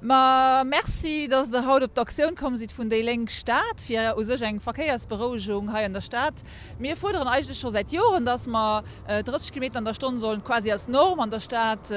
Ma merci, dass Der haut op d'Aktioun komm sidd vun déi Lénk Stad fir u sech eng Verkéiersberouegung hei an der Stad. Mir fuerderen eigentlech scho säit Joren, dass mer 30 Kilometer an der Stonn sollen quasi als Norm an der Stad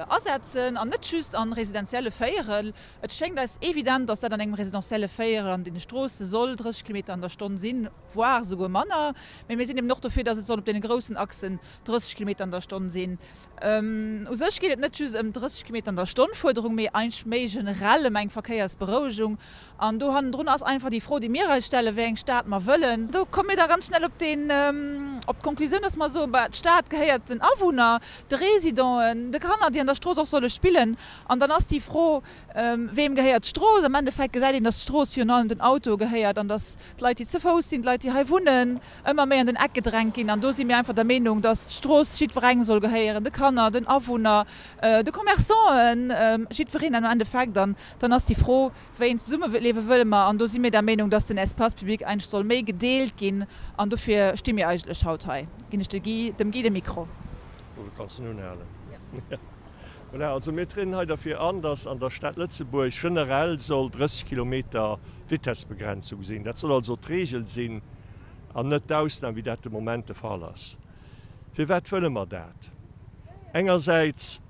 asetzen an net just an residentielle Véierel. Et schéngt eis evident, dass dat an engem residentielle Véierel an deene Stroosse soll 30 Kilometer an der Stonn sinn, voire souguer manner. Mä mir sinn eben och dofir, dass et soll op deene groussen Achsen 30 Kilometer an der Stonn sinn. U sech geet et net just ëm 30 Kilometer an der Stonn Fuerderung, mee eigentlech méi generell ëm eng Verkéiersberouegung. An do hannendrun ass einfach déi Fro, déi mir eis stellen, wéi eng Stad mer wëllen. Do komme mir da ganz schnell op d'Konklusioun, dass mer soen, bah, d'Stad gehéiert den Awunner, de Residenten, de Kanner, déi an der Strooss och solle spillen. An dann ass déi Fro, Weem gehéiert d'Strooss? Am Endeffekt gesäit een, dass d'Strooss virun allem den Autoe gehéiert an dass d'Leit, déi ze Fouss sinn, d'Leit, déi hei wunnen, ëmmer méi an den Eck gedrängt ginn an do si mir einfach der Meenung, dass d'Strooss jiddwerengem soll gehéieren, de Kanner, den Awunner, de Commerçanten, jiddwereen am Endeffekt an dann ass déi Fro, wéi een Zesummeliewe wëlle mer an do si mir der Meenung, dass den Espace public eigentlech soll méi gedeelt ginn an dofir sti mir eigentlech haut hei. Ginn ech dem Guy de Mikro. Voilà, also mir trieden hei derfir an, dass an der Stad Lëtzebuerg generell soll 30 Kilometer d'Vitessbegrenzung sinn. Dat soll also d'Regel sinn an net d'Ausnam, wéi dat de Moment de Fall ass. Firwat wëlle mer dat? Engersäits,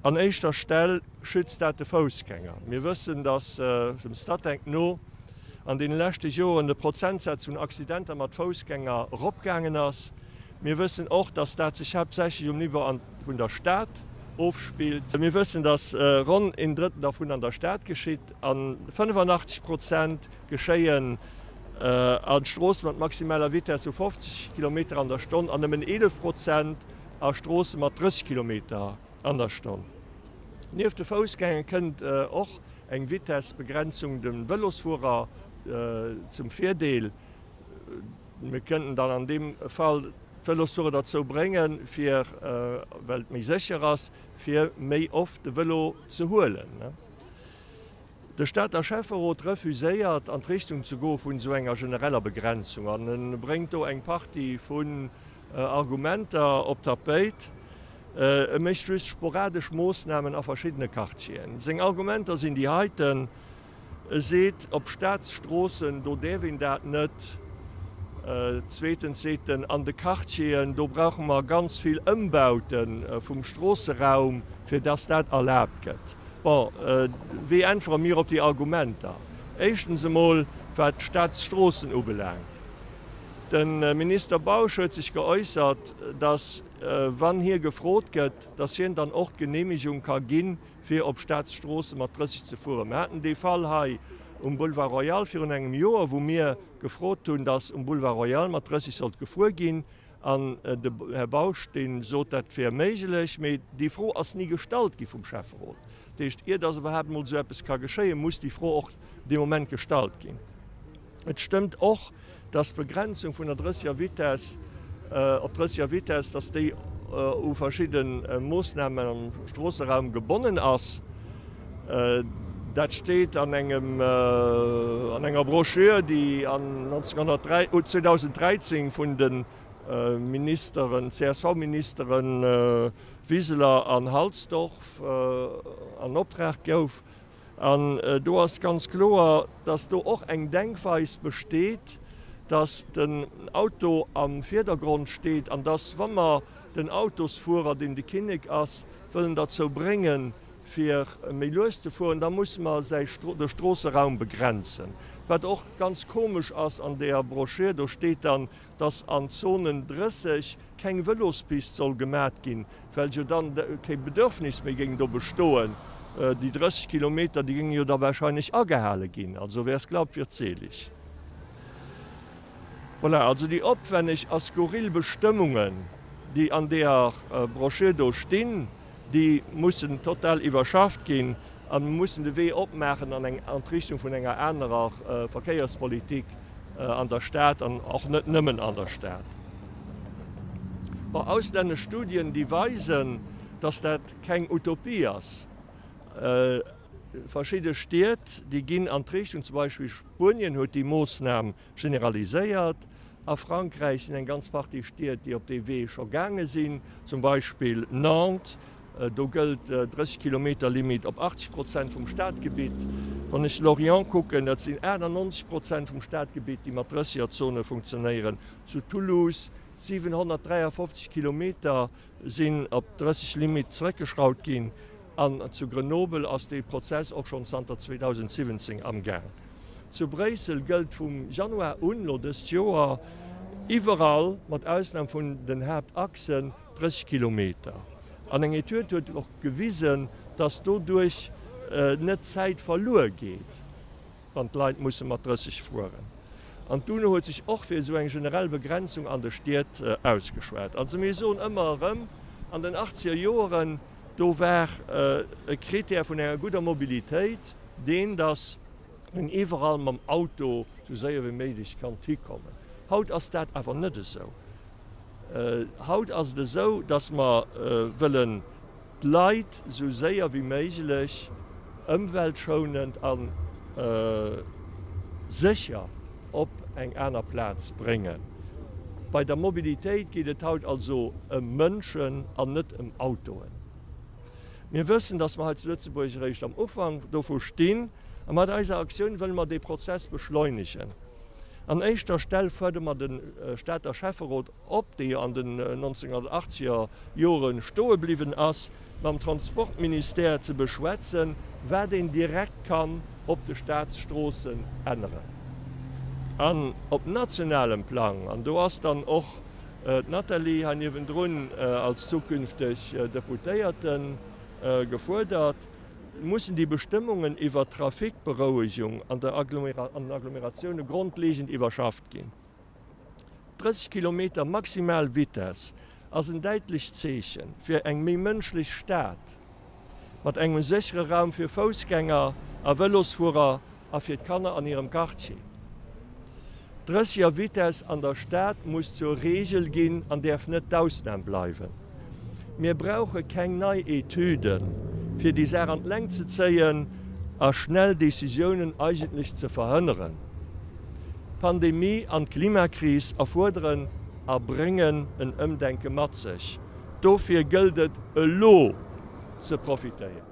an éischter Stell, schützt dat de Foussgänger. Mir wëssen, dass dem Statec no an deene leschte Joren de Prozentsaz vun Accidenter mat Foussgänger eropgaangen ass. Mir wëssen och, dass dat sech haaptsächlech um Niveau an vun der Stad ofspillt. Mir wëssen, dass ronn een Drëttel dervun an der Stad geschitt a 85 Prozent geschéien a Stroosse mat maximaler Vitess vu 50 Kilometer an der Stonn an nëmmen 11 Prozent a Stroosse mat 30 Kilometer an der Stonn. Nieft de Foussgänger kënnt och eng Vitessbegrenzung de Vëlosfuerer zum Virdeel. Mir kënnten dann an deem Fall d'Vëlosfuerer derzou bréngen, fir, well et méi sécher ass, fir méi oft de Vëlo ze huelen. De Stater Schäfferot refuséiert, an d'Richtung ze goe vun esou enger genereller Begrenzung an e bréngt do eng Partie vun Argumenter op d'Tapéit. E mécht just sporadesch Moossnamen a verschiddene Quartieren. Seng Argumenter sinn déi heiten, E seet, op Staatsstroossen, do däerf een dat net. Zweetens seet en, an de Quartieren, do brauche mer ganz vill Ëmbaute vum Stroosseraum, fir dass dat erlaabt gëtt. Bon, wéi äntwere mir op déi Argumenter? Éischtens emol, wat d'Staatsstroossen ubelaangt, De Minister Bausch huet sech geäussert, dass, wann hie gefrot gëtt, dass hien dann och d'Geneemegung ka ginn, fir op Staatsstroosse mat 30 ze fueren. Mir haten dee Fall hei um Boulevard Royal virun engem Joer, wou mir gefrot hunn, dass um Boulevard Royal mat 30 sollt gefuer ginn, an de Här Bausch, dee sot, dat wär méiglech. Mee déi Fro ass ni gestallt gi vum Schäfferot. Dat heescht, ier dass iwwerhaapt emol esou eppes ka geschéien, muss déi Fro och dee Moment gestallt ginn. Et stëmmt och, dass d'Begrenzung vun der 30er Vitess op 30er Vitess, dass déi u verschidde Moosnamen am Stroosseraum gebonnen ass. Dat steet an enger Brochure, déi 2013 vun de Ministeren, CSV-Ministere Wiseler an Halsdorf an Optrag gouf. An do ass ganz kloer, dass do och eng Denkweis besteet, dass den Auto am Virdergrond steet an dass, wa mer den Autosfuerer, deen de Kinnek ass, wëllen derzou bréngen, fir méi lues ze fueren, da musse mer säi de Stroosseraum begrenzen. Wat och ganz komesch ass an där Broschür, do steet dann, dass an Zonen 30 keng Vëlospist soll gemat ginn, well jo dann kee Bedürfnis méi géing do bestoen. Déi 30 Kilometer, déi géinge jo da wahrscheinlech agehale ginn. Also wer es glaubt, wird selig. Voilà, also déi opwänneg a skurril Bestëmmungen, déi an deeër Broschür do stinn, Déi mussen total iwwerschafft ginn a mussen de Wee opmaachen an eng an d'Richtung vun enger anerer Verkéierspolitik an der Stad an och net nëmmen an der Stad. Bon, auslännesch Studien, déi weisen, dass dat keng Utopie ass. Verschidde Stied, déi ginn an d'Richtung, zum Beispill Spuenien huet déi Moosnam Generaliséiert. A Frankräich sinn eng ganz Partie Stied, déi op dee Wee scho gaange sinn, zum Beispill Nantes. Do gëllt d'Drëssegkilometerlimit op 80 Prozent vum Stadgebitt. Wann ech Lorient kucken, dat sinn 98 Prozent vum Stadgebitt, déi mat Drëssegerzone funktionéieren. Zu Toulouse 753 Kilometer sinn op 30 Limit zeréckgeschraut ginn an zu Grenoble ass dee Prozess och schonn zanter 2017 am Gaang. Zu Bréissel gëllt vum Januar un, elo dëst Joer, iwwerall, mat Ausnam vun den Haaptachsen, 30 Kilometer. An eng Etüd huet och gewisen, dass doduerch net Zäit verluer geet. wann d'Leit musse mat 30 fueren. An d'UNO huet sech och fir esou eng generell Begrenzung an de Stied ausgeschwat. Also mir soen ëmmer erëm, an den achtzeger Joeren, do war e Krittär vun enger gudder Mobilitéit deen, datt een iwwerall mam Auto esou séier wéi méiglech konnt hikommen. Haut ass dat awer net esou. Haut ass et esou, datt mer wëllen, D'Leit esou séier wéi méiglech ëmweltschounend a sécher op eng aner Plaz bréngen. Bei der Mobilitéit geet et haut also ëm Mënschen an net ëm Autoen. Mir wëssen, dass mer hei zu Lëtzebuerg eréischt am Ufank dovu stinn. A mat eiser Aktioun wëlle mer dee Prozess beschleunegen. An éischter Stell fuerdere mer de Stater Schäfferot, op déi an den 1980er Jore stoe bliwwen ass, mam Transportministère ze beschwätzen, wat een direkt kann op de Staatsstroossen änneren. An op nationalem Plang, an do ass dann och d'Nathalie hei niewendrun als zukünfteg Deputéierte gefuerdert, mussen déi Bestëmmungen iwwert d'Trafikberouegung an den Agglomeratioune grondlegend iwwerschafft ginn. 30 Kilometer maximal Vitess ass en däitlecht Zeechen fir eng méi mënschlech Stad, mat engem séchere Raum fir Foussgänger a Vëlosfuerer a fir d'Kanner an hirem Quartier. D'drëssiger Vitess an der Stad muss zur Reegel ginn an däerf net d'Ausnam bleiwen. Mir brauche keng nei Etüden, fir déi Saach an d'Längt ze zéien a schnell Decisiounen eigentlech ze verhënneren. D'Pandemie an d'Klimakris erfuerderen a bréngen en Ëmdenke mat sech. Dofir gëllt et, elo ze profitéieren.